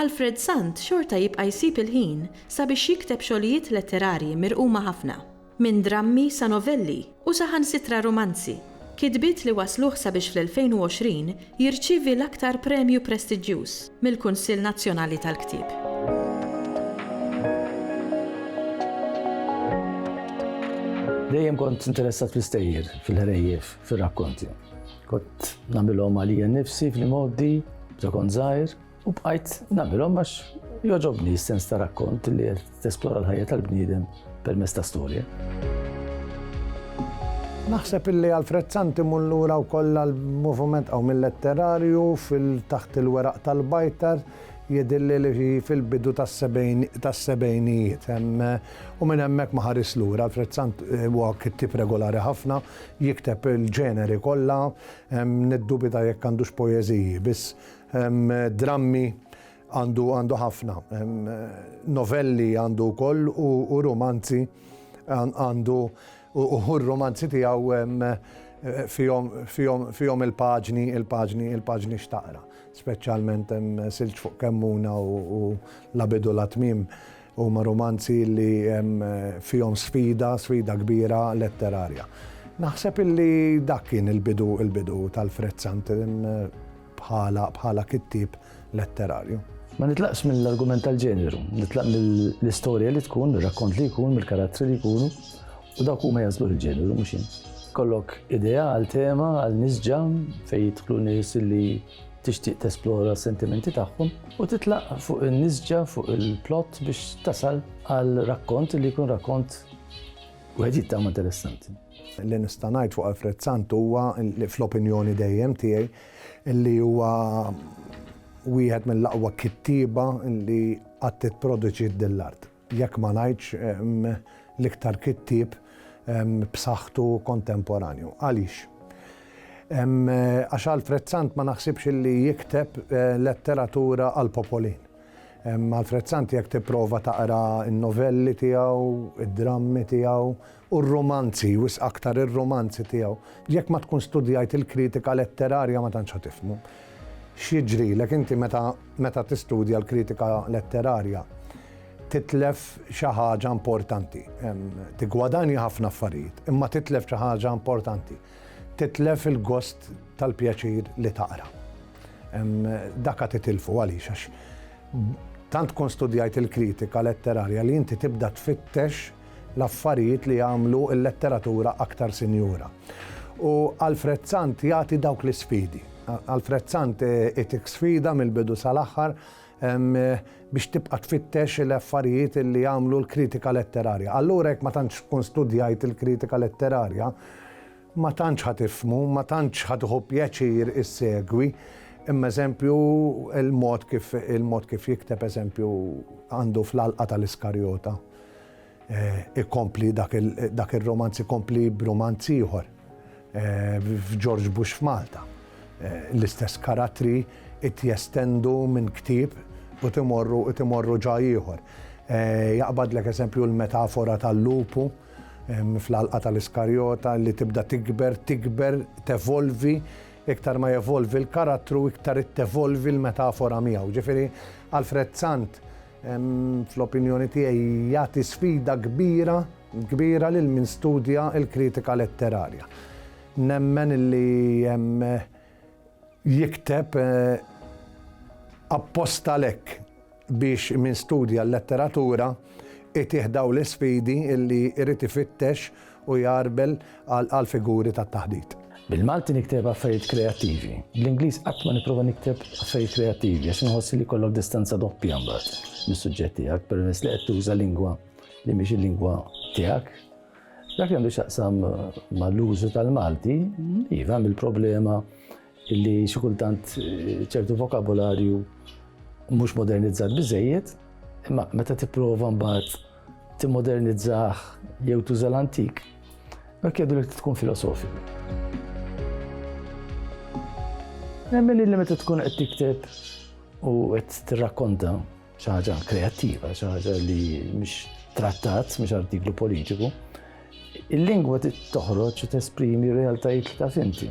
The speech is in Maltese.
Alfred Sant xorta jibqa' jsib il-ħin sabiex jikteb xogħlijiet letterarji mirquma ħafna, minn drammi sa novelli u saħansitra rumanzi, kitbiet li wassluh sabiex fl-2020 jirċievi l-aktar premju prestiġġjuż mill-Kunsill Nazzjonali tal-Ktieb. Dejjem kont interessat fl-istejjer, fil-ħrejjef, fir-rakkonti. Kont nagħmilhom għalija nnifsi fl-imgħoddi, meta kont żgħir, U bqajt nagħmilhom għax joġobni s-sens ta' rakkont li qed tesplora l-ħajja tal-bniedem permezz ta' storja. Naħseb illi Alfred Santi mullura u kolla l-movement għaw mill-letterarju fil-taħt il-weraq tal-bajtar jedilli li fil-bidu tas-sebejnijiet. U minn hemmhekk ma ħaris lura Alfred Sant eh, huwa kittib regolari ħafna, jikteb il-ġeneri kollha, niddubita jekk għandux poeżiji, biss Drammi għandu għandu ħafna, novelli għandu wkoll u rumanzi għandu u hu r-rumanzi tiegħu fihom fihom fihom il-paġni il-paġni il-paġni x'taqra. Speċjalment Silġ fuq Kemmuna u La bidu la tmiem huma rumanzi li fihom sfida, sfida kbira letterarja. Naħseb illi dak kien il-bidu il-bidu t'Alfred Sant. bħala bħala kittieb letterarju. Ma nitlaqx mill-argument tal-ġeneru, nitlaq mill-istorja li tkun, mir-rakkont li jkun, mill-karattri li jkunu, u dawk huma jażlu l-ġeneru mhux jien. Kollok idea għal tema, għal nisġa fejn jidħlu nies li tixtieq tesplora s-sentimenti tagħhom u titlaq fuq in-nisġa fuq il-plot biex tasal għal rakkont li jkun rakkont wieħed jittama interessanti. Li nista' ngħid fuq Alfred Sant huwa li fl-opinjoni dejjem tiegħi li huwa wieħed mill-aqwa kittieba li qatt ipproduċiet din l-art. Jekk ma ngħidx l-iktar kittieb b'saħħtu kontemporanju. Għaliex? Għax Alfred Sant ma naħsibx li jikteb letteratura għall-popolin. Alfred Sant jekk tipprova taqra n-novelli tiegħu, id-drammi tiegħu, u r-rumanzi, wisq aktar ir-rumanzi tiegħu. Jekk ma tkun studjajt il-kritika letterarja ma tantx ħa tifhmu. X'jiġrilek inti meta meta tistudja l-kritika letterarja titlef xi ħaġa importanti. Tiggwadanja ħafna affarijiet, imma titlef xi ħaġa importanti. Titlef il-gost tal-pjaċir li taqra. Daka titilfu għaliex għax tant tkun studjajt il-kritika letterarja li inti tibda tfittex l-affarijiet li jagħmlu l-letteratura aktar sinjura. U Alfred Sant jagħti dawk l-isfidi. Alfred Sant itik sfida mill-bidu sal-aħħar biex tibqa' tfittex l-affarijiet li jagħmlu l-kritika letterarja. Allura jekk ma tantx tkun studjajt il-kritika letterarja, ma tantx ħa tifhmu, ma tantx ħa tieħu pjaċir issegwi, imma eżempju il-mod kif il-mod kif jikteb eżempju għandu fl-Għalqa tal-Iskarjota. Ikompli dak ir-rumanz ikompli b'rumanz ieħor f'Ġorġ Bush f'Malta. L-istess karattri qed jestendu minn ktieb u qed imorru qed imorru ġa ieħor. Jaqbadlek eżempju l-metafora tal-lupu fl-Għalqa tal-Iskarjota li tibda tikber, tikber, tevolvi, iktar ma jevolvi l-karattru iktar qed tevolvi l-metafora miegħu. Ġifieri Alfred Sant fl-opinjoni tiegħi jagħti sfida kbira, kbira lil min studja l-kritika letterarja. Nemmen li jikteb apposta lek biex min studja l-letteratura itih daw l-isfidi illi irid ifittex u jgħarbel għall-figuri tat-taħdit. Bil-Malti nikteb affarijiet kreattivi. Bl-Ingliż qatt ma nipprova nikteb affarijiet kreattivi għax inħoss li jkollok distanza doppja mbagħad mis-suġġett tiegħek permezz li qed tuża lingwa li mhix il-lingwa tiegħek. Dak li għandu x'jaqsam mal-użu tal-Malti, iva mill-problema Illi xi kultant ċertu vokabularju mhux modernizzat biżejjed, imma meta tipprova mbagħad timmodernizzah jew tuża l-antik, dak jgħidu li tkun filosofiku. Nemmen li meta tkun qed tikteb u qed tirrakkonta xi ħaġa kreattiva, xi ħaġa li mhix trattat, mhix artiklu politiku, il-lingwa toħroġ u tesprimi realtajiet ta' finti.